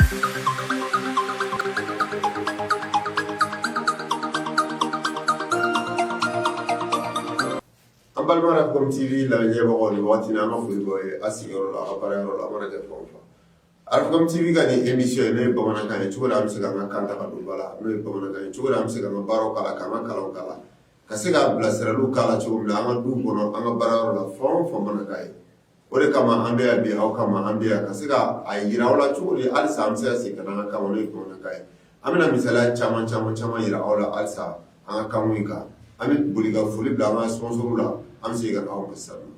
An balima Africom TV lajɛbagaw aw ni waati an ka foli b'aw ye aw sigiyɔrɔ la aw baara yɔrɔ la a mana kɛ fan fɛ Africom TV ka nin émission n'o ye bamanankan ye cogo di an bɛ se k'an ka kan ta k'a don ba la n'o ye bamanankan ye cogo di an bɛ se k'an ka baro k'a la k'an ka kalan k'a la ka se ka bilasirali k'a la cogo di an ka du kɔnɔ an ka baara yɔrɔ la fan o fan bamanankan ye o de kama an bɛ yan bi aw kama an bɛ yan ka se ka a jira aw la cogo di halisa an bɛ se ka segin ka na an ka kan ma n'o ye bamanankan ye an bɛna misaliya caman caman caman jira aw la halisa an ka kanw in kan an bɛ boli ka foli bila an ka sponsors la an bɛ segin ka na aw ma sisan nɔ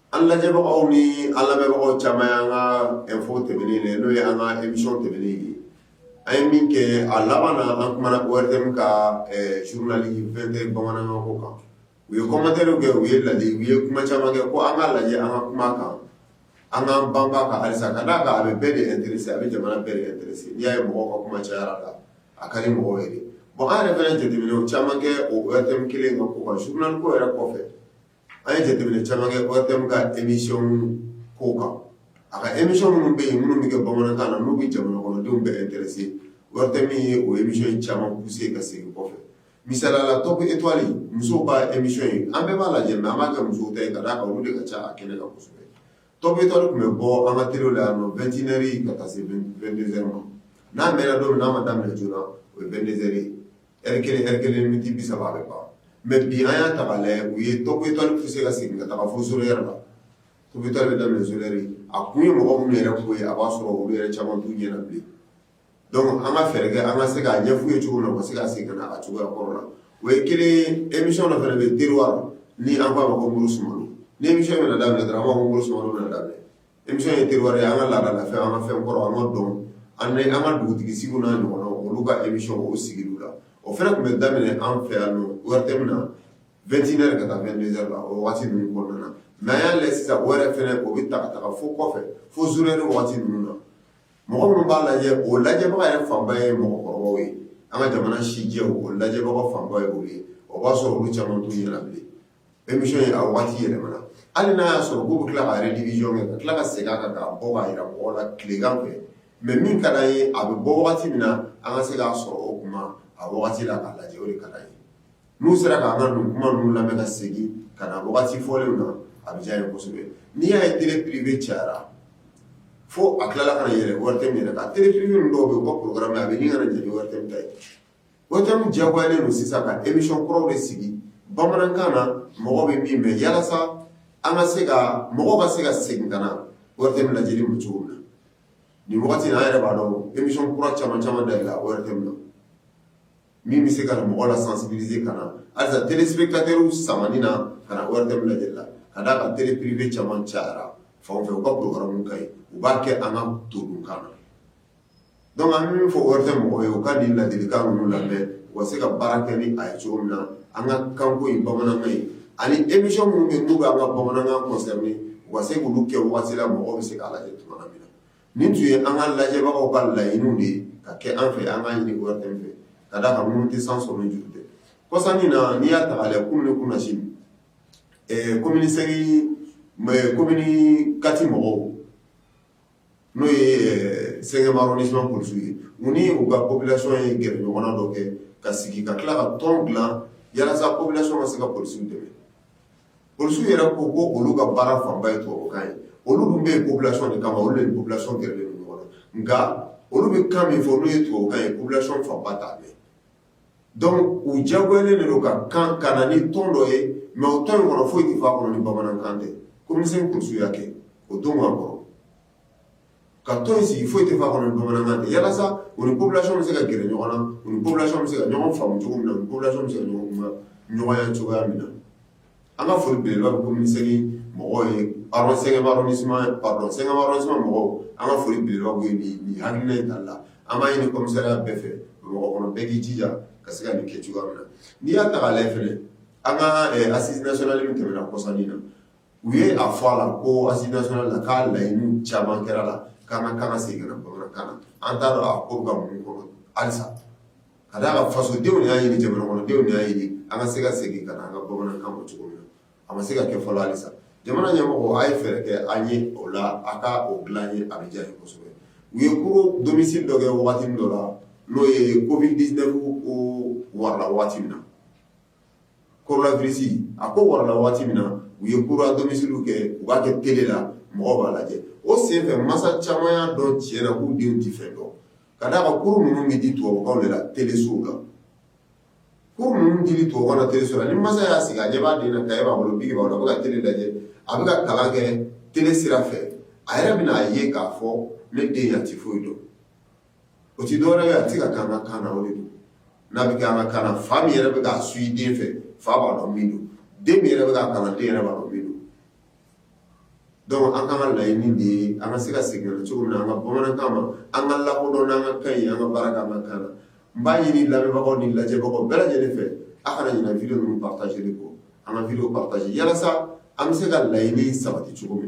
an lajɛbagaw ni an lamɛnbagaw caman y'an ka info tɛmɛnen de ye n'o ye an ka émission tɛmɛnen ye an ye min kɛ a laban na an kumana ORTM ka journal 20 heures bamanankan ko kan u ye commentaires kɛ u ye laadi u ye kuma caman kɛ ko an ka lajɛ an ka kuma a kan an k'an banba a kan halisa ka d'a kan a bɛ bɛɛ de interesser a bɛ jamana bɛɛ de interesser n'i y'a ye mɔgɔw ka kuma cayara a la a ka di mɔgɔw ye de bon an yɛrɛ fana ye jateminɛw caman kɛ o ORTM kelen in ka ko kan journal ko yɛrɛ kɔfɛ an ye jateminɛ caman kɛ ORTM ka émission ko kan, a ka émission minnu bɛ yen minnu bɛ kɛ bamanankan na n'u bɛ jamanakɔnɔdenw bɛɛ interesser ORTM ye o émission caman pousser ka segin kɔfɛ misaliya la Top Etoile musow ka émission in an bɛɛ b'a lajɛ mais an b'a kɛ musow ta ye ka d'a kan olu de ka ca a kɛnɛ kan kosɛbɛ Top Etoile tun bɛ bɔ an ka telew la yan nɔ 21 heures ka taa se 22 heures ma n'a mɛɛna don min n'a ma daminɛ joona o ye 22 heures ye Ri kelen kɛ kelen min di bi saba bɛ ban mɛ bi an y'a ta la u ye to tɔ tɛ se ka segin ka taa fo s yɛrɛ la u bɛ taa bɛ da s a ko ye mɔgɔ minnu yɛrɛ ko ye a b'a sɔrɔ olu yɛrɛ caman du ɲɛna bilen dɔnku an ka fɛɛrɛ kɛ an ka se k'a ɲɛfɔ ye cogo la ma se ka segin ka a cogoya kɔrɔ la o ye kelen emi dɔ fana bɛ teri ni an b'a ma ko muru sumaworo ni min da dɔrɔn an b' ko muru sumaworo da émission ye Terroir ye an ka laada la fɛn an ka fɛn kɔrɔ an ka dɔn an an ka dugutigi sigiw n'a ɲɔgɔnnaw olu ka émission o sigi la o fana tun bɛ daminɛ an fɛ yan nɔ ORTM na 21 heures ka taa 22 heures la o waati ninnu kɔnɔna na mais an y'a lajɛ sisan o yɛrɛ fana o bɛ ta ka taga fo kɔfɛ fo zéro heure waati ninnu na mɔgɔ minnu b'a lajɛ o lajɛbaga yɛrɛ fanba ye mɔgɔkɔrɔbaw ye an ka jamana sijɛw o lajɛbaga fanba ye olu ye o b'a sɔrɔ olu caman t'u ɲɛna bilen émission in ye a waati yɛlɛmana, hali n'a y'a sɔrɔ k'u bɛ tila ka rediffusion kɛ ka tila ka segin a kan k'a bɔ k'a jira mɔgɔw la tilegan fɛ mais min ka d'an ye a bɛ bɔ waati min na an ka se k'a sɔrɔ o tuma a waati la k'a lajɛ o de ka d'an ye n'u sera k'an ka nin kuma ninnu lamɛn ka segin ka na waati fɔlenw na a bɛ diya an ye kosɛbɛ n'i y'a ye télé privée cayara fo a tilala ka na yɛlɛ ORTM yɛrɛ kan télé privée ninnu dɔw bɛ yen u ka programme a bɛ ɲini ka na ɲɛ ni ORTM ta ye ORTM diyagoyalen don sisan ka émission kɔrɔw de sigi bamanankan na mɔgɔ bɛ min mɛn yalasa an ka se ka mɔgɔ ka se ka segin ka na ORTM lajɛli ma cogo min na nin waati in an yɛrɛ b'a dɔn émission kura caman dayɛlɛla ORTM na min bɛ se ka mɔgɔ la sensibiliser ka na alisa téléspectateurs sama ka na ORTM lajɛli la ka d'a kan télé privée caman cayara fan fɛ u ka programme ka ɲi u b'a kɛ an ka todunkan na Donc an bɛ min fɔ ORTM mɔgɔw ye u ka nin ladilikan ninnu lamɛn u ka se ka baara kɛ ni a ye cogo min na an ka kanko in bamanankan in ani émission minnu bɛ yen n'u bɛ an ka bamanankan concerner u ka se k'olu kɛ waati la mɔgɔw bɛ se k'a lajɛ cogoya min na nin tun ye an ka lajɛbagaw ka laɲiniw de ye ka kɛ an fɛ an k'a ɲini ORTM fɛ ka d'a kan minnu tɛ san sɔrɔ ni juru tɛ kɔsa in na n'i y'a ta k'a lajɛ kunun ni kunasini ɛɛ commune V commune IV mɔgɔw n'o ye sɛma ni suma kulu ye u ni u ka kobilɛsɔn ye g ɲɔgɔn dɔ kɛ ka sigi ka tila ka tɔn bila yalasa kobilɛsɔn ma se ka psi dɛmɛ psiw yɛrɛ ko ko olu ka baara fanba ye tokan ye olu tun bɛ kobilɛsɔn de kama olu yelasɔnon g ɲɔgɔn nka olu bɛ kan min fɔ olu ye tokan ye kobilɛsɔnon fanba ta u diyagoyalen de don ka kan ka na ni tɔn dɔ ye mais o tɔn in kɔnɔ foyi tɛ fɔ a kɔnɔ ni bamanankan tɛ commune V polisiw y'a kɛ o don ka kɔrɔ ka tɔn in sigi foyi tɛ fɔ a kɔnɔ ni bamanankan tɛ yalasa u ni population bɛ se ka gɛrɛ ɲɔgɔn na u ni population bɛ se ka ɲɔgɔn faamu cogo min na u ni population bɛ se ka ɲɔgɔn nɔgɔya cogoya min na an ka foli bɛ yɔrɔ kɔmimisɛn mɔgɔ ye sɛgɛnba ni suma sɛgɛnba suma mɔgɔ an ka foli bɛ yɔrɔ ye bi ha in da la an b'a ɲini kɔmikisɛsɛya bɛɛ fɛ mɔgɔ kɔnɔ bɛɛ k'i jija ka se ka nin kɛ cogoya na n'i y'a ta ale filɛ an ka asi sli tɛmɛna kɔsannin na u ye a fɔ a la ko asi la k'a layi caman kɛra la k'an ka kan ka segin bamanankan na an taara ko ka mun kɔnɔ alisa Ka d'a kan fasodenw y'a ɲini jamana kɔnɔdenw y'a ɲini an ka se ka segin ka na an ka bamanankan ma cogo min na a ma se ka kɛ fɔlɔ alisa jamana ɲɛmɔgɔw a ye fɛɛrɛ kɛ an ye o la a ka o dilan an ye a bɛ diya an ye kosɛbɛ u ye cours à domicile dɔ kɛ waati min dɔ la n'o ye covid-19 warala waati min na coronavirus a ko warala waati min na u ye cours à domicile kɛ u b'a kɛ télé la mɔgɔ b'a lajɛ o senfɛ masa caman y'a dɔn tiɲɛ na k'u denw tɛ fɛn dɔn ka d'a kan cours minnu bɛ di tubabukan de la telesow la cours minnu di tubabukan na teleso la ni masa y'a sigi a ɲɛ b'a den na kaye b'a bolo biki b'a bolo a bɛ ka tele lajɛ a bɛ ka kalan kɛ tele sira fɛ a yɛrɛ bɛna a ye k'a fɔ ne den yan tɛ foyi dɔn o tɛ dɔwɛrɛ ye a tɛ ka kɛ an ka kan na o de don n'a bɛ kɛ an ka kan na fa min yɛrɛ bɛ k'a suivi den fɛ fa b'a dɔn min don den min yɛrɛ bɛ k'a kalan den yɛrɛ b'a dɔn min don Dɔnku an ka laɲini de ye an ka se ka segin cogo min na an ka bamanankan ma an k'a lakodɔn an ka kan ye an ka baara kɛ an ka kan na n b'a ɲini lamɛnbagaw ni lajɛbagaw bɛɛ lajɛlen fɛ aw kana ɲinɛ video ninnu partage kɔ an ka video partage yalasa an bɛ se ka laɲini sabati cogo min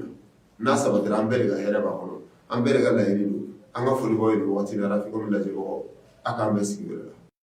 na n'a sabatira an bɛɛ ka hɛrɛ b'a kɔnɔ an bɛɛ ka laɲini don an ka foli b'aw ye nin waati la lajɛbagaw a k'an bɛ sigi la